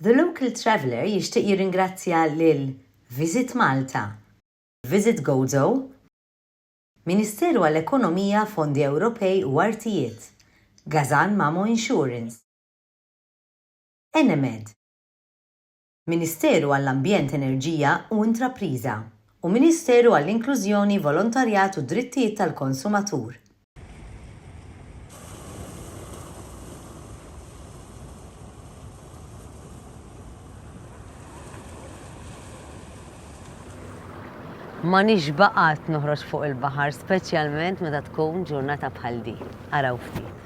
The Local Traveller jixtieq jirringrazzja lil Visit Malta, Visit Gozo, Ministeru għall-Ekonomija, Fondi Ewropej u Artijiet, Gazan Mamo Insurance, Enemed, Ministeru għall-Ambjent Enerġija u Intrapriża, u Ministeru għall-Inklużjoni, Volontarjat u Drittijiet tal-Konsumatur. Ma nixbaqat noħroġ fuq il-baħar, speċjalment meta tkun ġurnata bħal di. Araw ftit.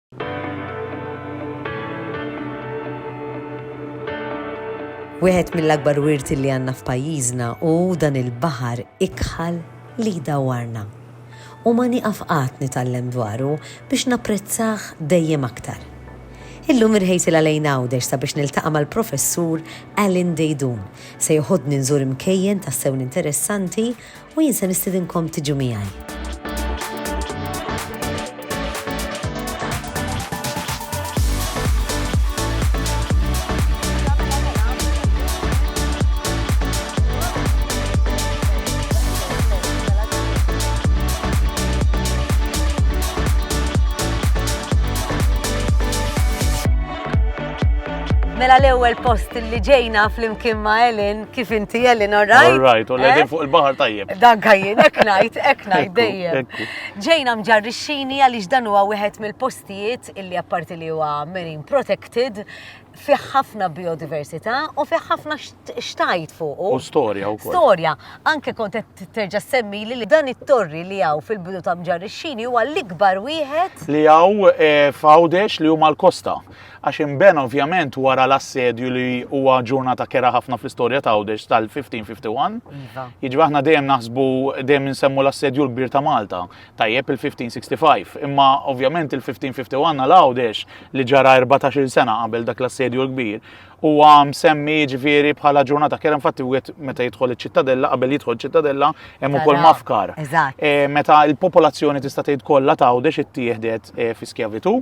Wieħed mill-akbar wirti li għandna f'pajjiżna hu dan il-baħar ikħal li jdawwarna. U ma nieqaf qatt nitgħallem dwaru biex napprezzah dejjem aktar. Illum irħejsil għalejn Għawdex sabiex niltaqa' mal-Professur Alan Dejdun se joħodni nżur imkejjen tassew interessanti u jien se nistidinkom tiġu miegħi. Mela l-ewwel post li ġejna flimkien ma' Ellen Kif inti Ellen, all right? All right, u l-edin eh? fuq il-bahar tajjeb. Dan kajjin, ek najt, ek najt dejjem. Ġejna mġarrixxini għaliex dan huwa wieħed mill-postijiet illi apparti li huwa marine protected fih ħafna biodiversità u fih ħafna xtajt fuq. U storja u kol. Storja, anke kont terġa semmi li dan it-torri li għaw fil-bidu ta' mġarrixxini huwa l-ikbar wieħed. Li għaw eh, fawdex li huma l-kosta. għax inbena ovvjament wara l-assedju li huwa ġurnata kera ħafna fl-istorja ta' Għawdex tal-1551. Jiġri aħna dejjem naħsbu dejjem insemmu l-assedju l-kbir ta' Malta, tajjeb il-1565, imma ovvjament il-1551 għal Għawdex li ġara 14-il sena qabel dak l-assedju l-kbir huwa msemmi ġifieri bħala ġurnata kera infatti wieħed meta jidħol iċ-ċittadella qabel jidħol ċittadella hemm ukoll mafkar. Eh, meta l-popolazzjoni tista' tgħid kollha ta' Għawdex ittieħdet eh, fi skjavitu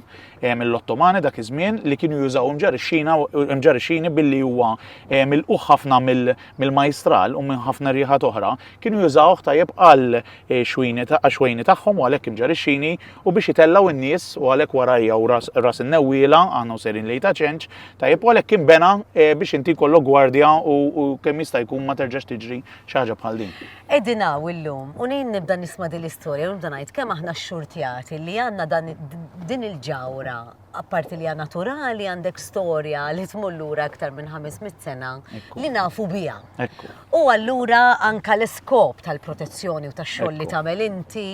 mill-Ottomani dak iż-żmien li kienu jużaw imġarixxini billi huwa mill-quħ ħafna mill-majstral u minn ħafna rieħat oħra, kienu jużawh tajjeb għal eh, xwejni tagħhom u għalhekk imġarixxini u biex itellgħu n-nies u għalhekk warajja u ras in-newwiela għandhom serin lejn ta' ċenċ, tajjeb u għalhekk kien bena eh, biex inti kollok gwardja u kemm jista' jkun ma terġax tiġri xi ħaġa bħal din. Qegħdin hawn illum u nejn nibda nisma' din l-istorja u nibda ngħid kemm aħna xxurtjati li għandna dan din il-ġawra apparti li hija naturali għandek storja li tmur lura aktar minn 500 sena li nafu biha. U allura anka l-iskop tal-protezzjoni u tax-xogħol li tagħmel inti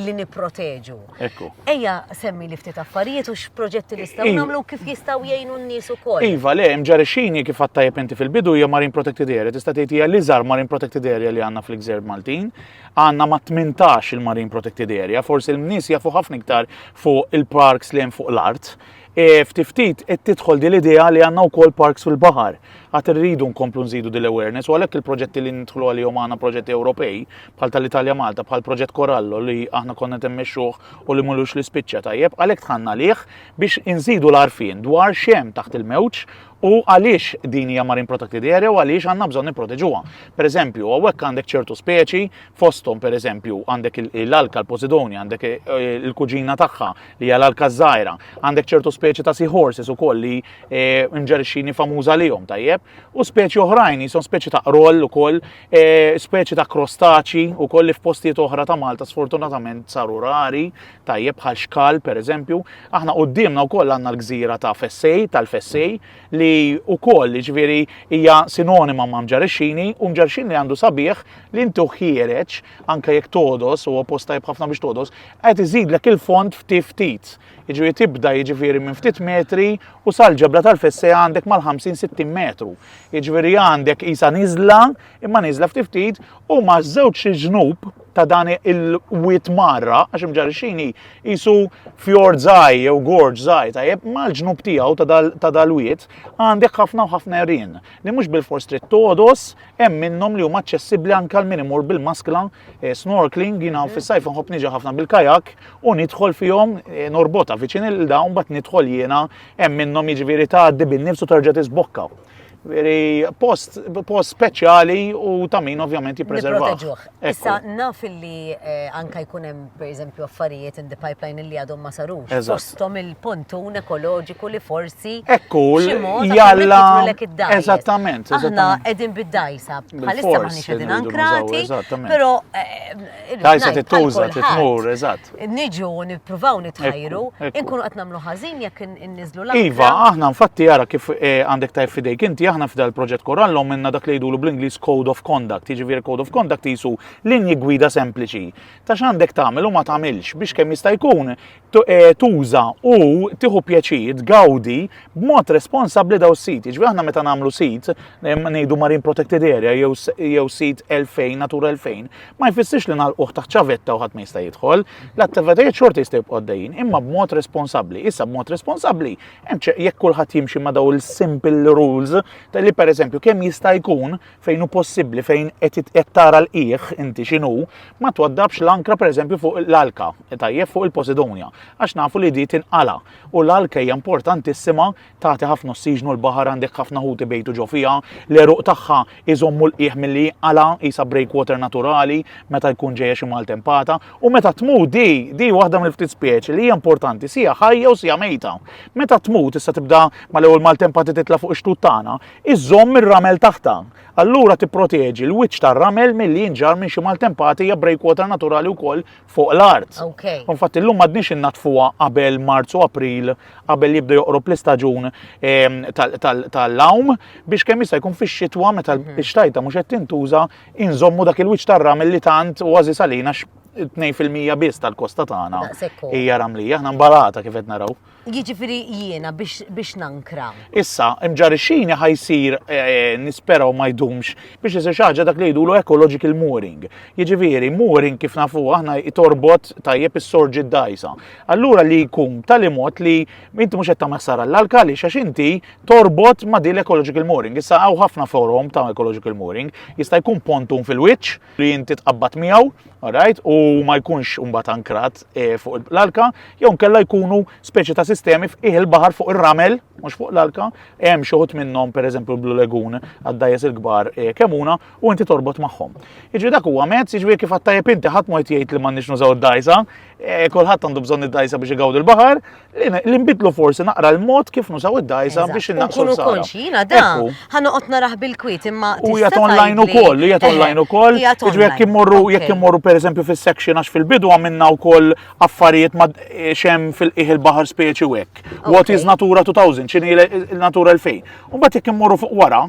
li nipproteġu. Ekku. Ejja, semmi li ftit affarijiet u x'proġetti nistgħu nagħmlu kif jistgħu jgħinu n-nies ukoll. Iva, le, mġarixini kif għattajja penti fil-bidu hija Marine Protected Area, tista' tgħid hija l-iżgħar Marine Protected Area li għandna fl-Gżer Maltin. Għandna ma' 18 il-Marine Protected Area, forsi l-nies jafu ħafna iktar fuq il-parks li hemm fuq l-art. E, ftit ftit qed tidħol din l-idea li għandna wkoll parks fil-baħar. Għad irridu nkomplu nżidu din l-awareness u għalhekk il-proġetti li nidħlu għalihom għandna proġetti Ewropej bħal tal-Italja Malta bħal proġett Korallo li aħna konna temmexxuh u li mulux li spiċċa tajjeb għalhekk tħanna lih biex inżidu l-arfin dwar xem taħt il-mewġ u għaliex din hija marine protected area u għaliex għandna bżonn nipproteġuha. Per eżempju, hawnhekk għandek ċertu speċi fosthom per eżempju għandek l-alka l-Posidonia, għandek eh, il-kuġina tagħha li hija l-alka żgħira, għandek ċertu speċi ta' seahorses ukoll li eh, nġerixini famuża lihom tajjeb, u speċi oħrajn jisom speċi ta' roll ukoll, eh, speċi ta' krostaċi ukoll li f'postijiet oħra ta' Malta sfortunatament saru rari, Tajjeb bħal Xkal, pereżempju, aħna quddiemna wkoll għandna l-gżira ta' Fessej, tal-Fessej, li wkoll ġifieri hija sinonima ma' Mġarixxini u Mġarixxini li għandu sabiħ li inti ħiereġ anke jekk todos u post tajjeb ħafna biex todos, qed iżidlek il-fond ftit ftit. Jiġifieri tibda jiġifieri minn ftit metri u sal-ġebla tal-Fessej għandek mal-50-60 metru. Jiġifieri għandek isa niżla imma niżla ftit ftit u ma' żewġ ġnub ta' dan il-wiet marra, għax imġarixini jisu fjord zaj jew gorġ zaj, tajjeb mal-ġnub tiegħu ta' dal-wiet għandek ħafna u ħafna rien li mhux bil-fors trid todos hemm minnhom li huma aċċessibbli anke għal min imur bil-maskla eh, snorkeling jiena mhm. fis-sajf nħobb niġi ħafna bil-kajak u nidħol fihom eh, norbota viċin il-dawn bat nidħol jiena hemm minnhom jiġifieri tgħaddi bin-nifs u terġa' tisbokka. Veri, post, post speċjali u ta' min ovvjament jippreserva. Issa naf li eh, anka jkun hemm pereżempju affarijiet in the pipeline li għadhom ma sarux. Postom il-pontun ekoloġiku li forsi. Ekku, jalla. Eżattament. Aħna qegħdin bid-dajsa. Bħalissa ma nix qegħdin ankrati. Però eh, Tajsa tittuża, titmur, eżatt. Niġu nippruvaw nitħajru, inkunu qed nagħmlu ħażin jekk inniżlu l Iva, aħna nfatti jara kif eh, għandek tajf fidejk inti aħna f'dal proġett korallhom minna dak li jdulu bl-Ingliż Code of Conduct, jiġifieri Code of Conduct jisu linji gwida sempliċi. Ta' x'għandek tagħmel u ma tagħmilx biex kemm jista' jkun Eh, tuża u tieħu pjaċir, tgawdi b'mod responsabbli daw sit. Ġifieri aħna meta nagħmlu sit, ngħidu Marine Protected Area jew sit 2000, Natura 2000, ma jfissirx li nagħlquh taħt ċavetta u ħadd ma jista' jidħol. L-attivitajiet xorta jista' jibqgħu għaddejjin, imma b'mod responsabbli. Issa b'mod responsabbli, jekk kulħadd jimxi ma' daw il-simple rules, li pereżempju kemm jista' jkun fejn hu possibbli, fejn qed tara l-qiegħ inti x'inhu, ma twaddabx l-ankra pereżempju fuq l-alka, tajjeb fuq il-Posidonja, għax nafu li di tinqala. U l-alka hija importantissima tagħti ħafna ossiġnu l-baħar għandek ħafna ħuti bejtu ġo fiha, l-eruq tagħha iżommu l-qiegħ milli jinqala isa breakwater naturali meta jkun ġejja xi maltempata u meta tmut di di waħda mill-ftit speċi li hija importanti sija ħajja u sija mejta. Meta tmut issa tibda mal-ewwel maltempati titla' fuq ix-xtut tagħna, iżżomm ir-ramel taħtha. Allura tipproteġi l-wiċċ tar-ramel milli jinġarr minn xi maltempati hija breakwater naturali wkoll fuq l-art. Okay. Infatti llum m'għadniex innaddfuha qabel Marzu April qabel jibda joqrob l-istaġun ehm, tal-lawm biex kemm jista' jkun fix-xitwa meta mhm. l-xtajta mhux qed tintuża inżommu dak il-wiċċ tar-ramel li tant u għażi salina 2% biss tal-kosta tagħna hija ramlija, aħna mbalata kif qed naraw. Jiġifieri jiena biex nankra. Issa, imġarixxini ħa jsir eh, nispera u ma jdumx biex isir xi ħaġa dak li jgħidulu ecological mooring. Jiġifieri mooring kif nafu aħna jtorbot tajjeb is-sorġi d-dajsa. Allura li jkun tali mod li inti mhux qed tagħmel ħsara l-alka li għax inti torbot ma' din l-ecological mooring. Issa hawn ħafna forum ta' ecological mooring jista' jkun pontun fil-wiċċ li inti tqabbad miegħu, alright, u ma jkunx imbagħad ankrat eh, fuq l-alka, jew nkella jkunu speċi ta' sistemi f'ih il-baħar fuq ir-ramel, mhux fuq l-alka, hemm xi ħut minnhom pereżempju l-Blue Lagoon għad-dajjes il-kbar eh, kemuna u inti torbot magħhom. Jiġri dak huwa mezz, jiġri kif għattajjeb inti ħadd ma jgħid li m'għandniex nużaw id-dajsa, eh, kulħadd għandu bżonn id-dajsa biex igawd il-baħar, Li nbidlu forsi naqra l-mod kif nużaw id-dajsa biex innaqsu. Kunu konxi, jina da, ħanoqot naraħ bil-kwit imma. U jgħat online u koll, u jgħat eh, online u koll. Iġu jek jimmurru, jek jimmurru per eżempju fil-section għax fil-bidu għamilna u koll affarijiet ma eh, xem fil-iħ il-bahar speċi u ek. What is Natura 2000, ċini il-Natura 2000. Un bat jek jimmurru fuq wara,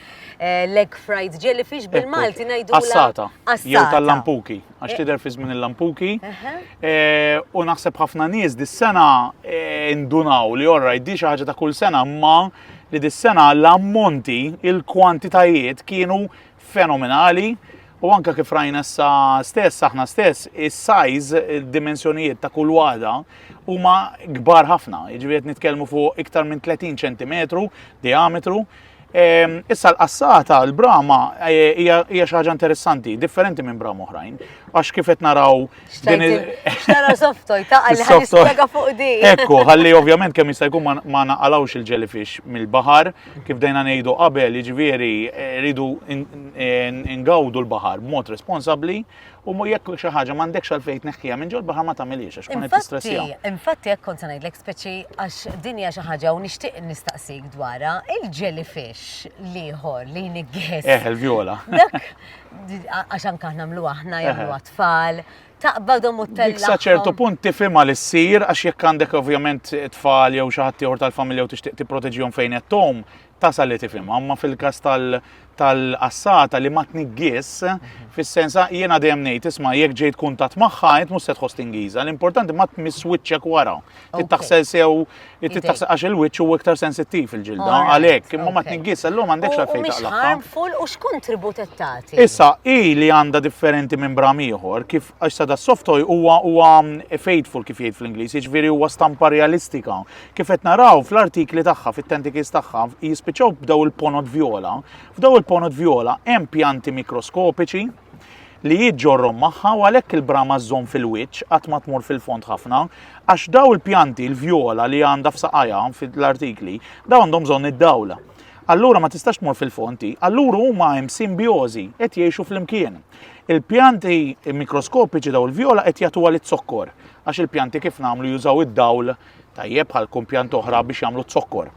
Eh, leg fried jellyfish bil-Malti ngħidu. Assata. Jew tal-lampuki, għax eh. tidher fi żmien il-lampuki. Eh, u naħseb ħafna nies dis-sena indunaw li orra di xi ħaġa ta' kull sena ma li dis-sena l-ammonti, il-kwantitajiet kienu fenomenali. U anka kif rajna sa stess, aħna stess, is-sajz, id-dimensjonijiet ta' kull waħda huma kbar ħafna. Jiġifieri nitkellmu fuq iktar minn 30 cm diametru. Ehm, issa l-qassata, l-brama, eh, hija xi ħaġa interessanti, differenti minn brama oħrajn. Għax kif qed naraw. Xtara softoj, ta' għalli ħanispjega fuq di. Ekku, ħalli ovvjament kemm jista' jkun ma naqalawx il-jellyfish mill-baħar, kif dejna ngħidu qabel, jiġifieri eh, rridu ingawdu l-baħar b'mod responsabbli U mu jekk xi ħaġa m'għandekx għalfejn tneħħiha minn ġol baħar ma tagħmilhiex għax tkun qed tistressja. Infatti hekk kont se ngħidlek speċi għax din hija xi ħaġa u nixtieq nistaqsik dwarha il-jellyfish liħor li jniggħis. Eh, il-vjola. Dak għax anke aħna mlu aħna jagħmlu għatfall. Eh. Taqbadhom u tella. Sa ċertu punt tifhimha li ssir għax jekk għandek ovvjament tfal jew xi ħadd ieħor tal-familja u tixtieq tipproteġihom fejn qed tom, tasal li tifhimha, imma fil-każ tal-qassata li ma tniggis, mhm. fis-sens ah, jiena dejjem ngħid isma' jekk ġejt kuntat magħha int mhux se tħoss tingiża, l-importanti ma tmiss wiċċek wara. Tittaħsel sew tittaħsel għax il-wiċċ huwa iktar sensittiv il-ġilda għalhekk, imma ma tniggis illum għandek xi fejn taqlaqha. harmful u x'kontribut qed tagħti? Issa hi li għandha differenti minn bram ieħor kif għax sada soft toy huwa huwa mm, faithful kif jgħid fl-Ingliż, jiġifieri huwa stampa realistika. kif qed naraw fl-artikli tagħha, fit-tentikils tagħha, jispiċċaw b'daw il-ponot vjola. F'daw il-ponot vjola hemm pjanti mikroskopiċi li jiġġorrom magħha u għalhekk il-brama żżomm fil-wiċċ qatt ma tmur fil-fond ħafna, għax daw il-pjanti l-vjola li għandha f'saqajha fil-artikli, daw għandhom bżonn id-dawl. Allura ma tistax tmur fil-fonti, allura huma hemm simbjożi qed jgħixu flimkien. Il-pjanti mikroskopiċi daw il-vjola qed jagħtuha lit-zokkor għax il-pjanti kif nagħmlu jużaw id-dawl tajjeb bħal kumpjant oħra biex jagħmlu zokkor.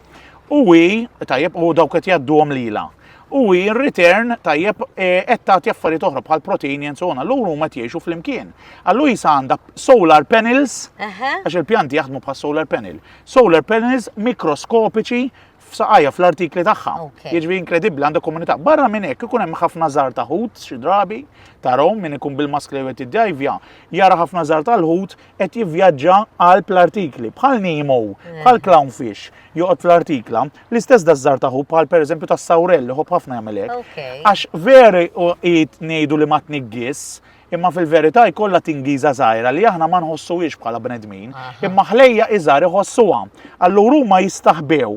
U hi tajjeb u dawk qed jgħadduhom lila. U hi return tajjeb e, qed tagħti affarijiet oħra bħal protein and so on, allura huma qed jgħixu flimkien. Allura jisa għandha solar panels, għax il-pjanti jaħdmu bħal solar panel. Solar panels mikroskopiċi f'saqajja fl-artikli tagħha. Jiġri inkredibbli għandha komunità. Barra minn hekk ikun hemm ħafna żar ta' ħut xi drabi tarhom min ikun bil-mask li qed jiddajvja, jara ħafna żar tal-ħut qed jivvjaġġa għal l-artikli bħal Nemo, mm. bħal clownfish joqgħod fl-artikla, l-istess da żar ta' ħut bħal pereżempju tas-sawrell li ħobb ħafna jagħmel hekk. Għax veri u ngħidu li ma tniggis, Imma fil-verità jkollha tingiża żgħira li aħna ma nħossuhiex bħala bnedmin, imma ħlejja iżgħar iħossuha. Allura huma jistaħbew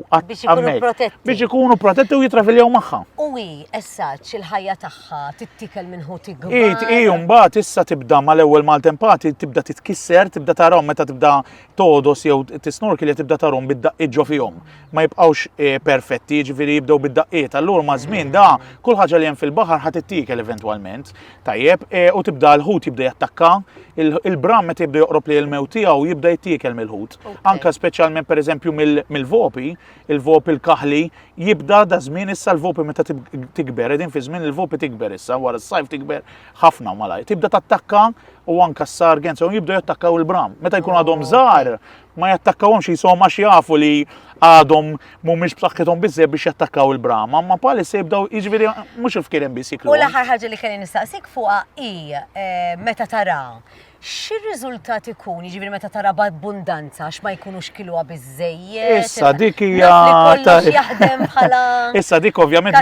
biex ikunu protetti u jitraviljaw magħha. U hi essaġġ il-ħajja tagħha tittikel minn ħut ikbar. Hi mbagħad issa tibda mal-ewwel maltempati tibda titkisser, tibda tarhom meta tibda todos jew tisnorki li tibda tarhom bid-daqqiet ġo fihom. Ma jibqgħux eh, perfetti, jiġifieri jibdew bid-daqqiet. Allura ma' żmien da kull ħaġa li hemm fil-baħar ħad tittikel eventwalment. Tajjeb, e, u tibda l-ħut jibda jattakka, il-bram meta jibda joqrob li l-mew tiegħu jibda jittiekel mill-ħut. Anka speċjalment pereżempju mill-vopi, il-vopi l-kaħli jibda da żmien issa l-vopi meta tikber, edin fi żmien il-vopi tikber issa wara s-sajf tikber ħafna malaj. Tibda tattakka u anka s-sargen, so jibda jattakkaw il-bram. Meta jkun għadhom żgħar, ma jattakkawhomx jisom għax jafu li għadhom mhumiex b'saħħithom biżżejjed biex jattakkaw il-brama, ma palissa jibdaw jiġifieri mhux il-fkieren biss jiklu. U l-aħħar ħaġa li kelli nistaqsik fuqha hi eh, meta tara x'ir-riżultat ikun, jiġifieri meta tara b'abbundanza għax ma jkunux kiluha biżejjed. Issa dik hija jaħdem bħala. Issa dik ovvjament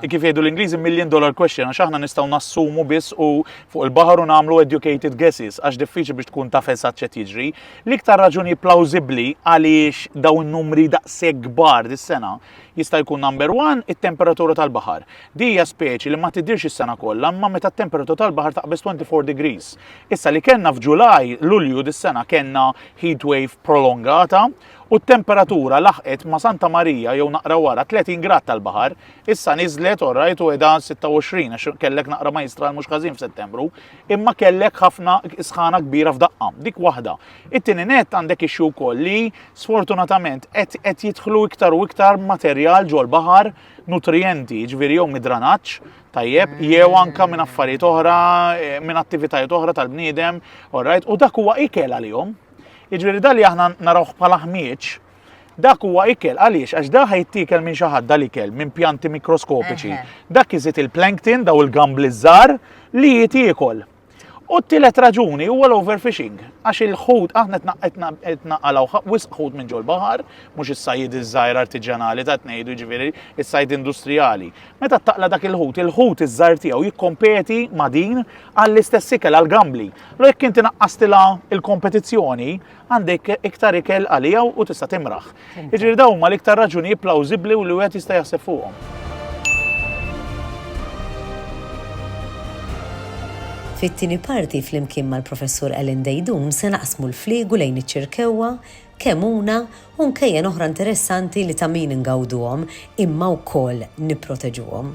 kif jgħidu l-Ingliżi million dollar question għax aħna nistgħu nassumu biss u fuq il-baħar u nagħmlu educated guesses għax diffiċli biex tkun taf eżatt ċet jiġri. L-iktar raġuni plawżibbli għaliex dawn numri daqshekk kbar dis-sena jista' jkun number one it-temperatura tal-baħar. Di hija speċi li ma tidhirx is-sena kollha imma meta t-temperatura tal-baħar taqbeż 24 degrees. Issa li kellna f'Ġulaj, Lulju dis-sena kellna heat wave prolongata u t-temperatura laħqet ma' Santa Marija jew naqra wara 30 grad tal-baħar, issa niżlet orrajt u qiegħda 26 għax kellek naqra ma jistral mhux każin f'Settembru. imma kellek ħafna sħana kbira f'daqqa, dik waħda. It-tieni net għandek ixxu wkoll li sfortunatament qed jidħlu iktar u iktar materjal ġol baħar nutrijenti, ġviri jew midranaċ, tajjeb, mm. jew anka minn affarijiet oħra, eh, minn attivitajiet oħra tal-bniedem, u dak huwa ikel għalihom. Iġveri dal li aħna narawh bħala ħmieġ, Dak huwa ikel għaliex għax da ħajtiekel minn xi ħadd dal-ikel minn pjanti mikroskopiċi. Dak iżid il-plankton daw il-gambli żgħar li jitiekol. U t-tielet raġuni huwa l-overfishing, għax il-ħut aħna qed naqalgħu wisq ħut minn ġol baħar, mhux is-sajd iż-żgħir artiġjanali ta' tnejdu ġifieri is-sajd industrijali. Meta taqla dak il-ħut, il-ħut iż-żgħar tiegħu jikkompeti ma' din għall-istess ikel għall-gambli. Lo jekk inti naqqastilha il-kompetizzjoni, għandek iktar ikel għalija u tista' timraħ. Jiġifieri dawn huma l-iktar raġunijiet plawżibbli u li wieħed jista' jaħseb fuqhom. Fit-tieni parti flimkien mal-Professur Ellen Dejdun se naqsmu l-fliegu lejn iċ-ċirkewwa, kemuna u nkejjen oħra interessanti li ta' min ingawduhom imma wkoll nipproteġuhom.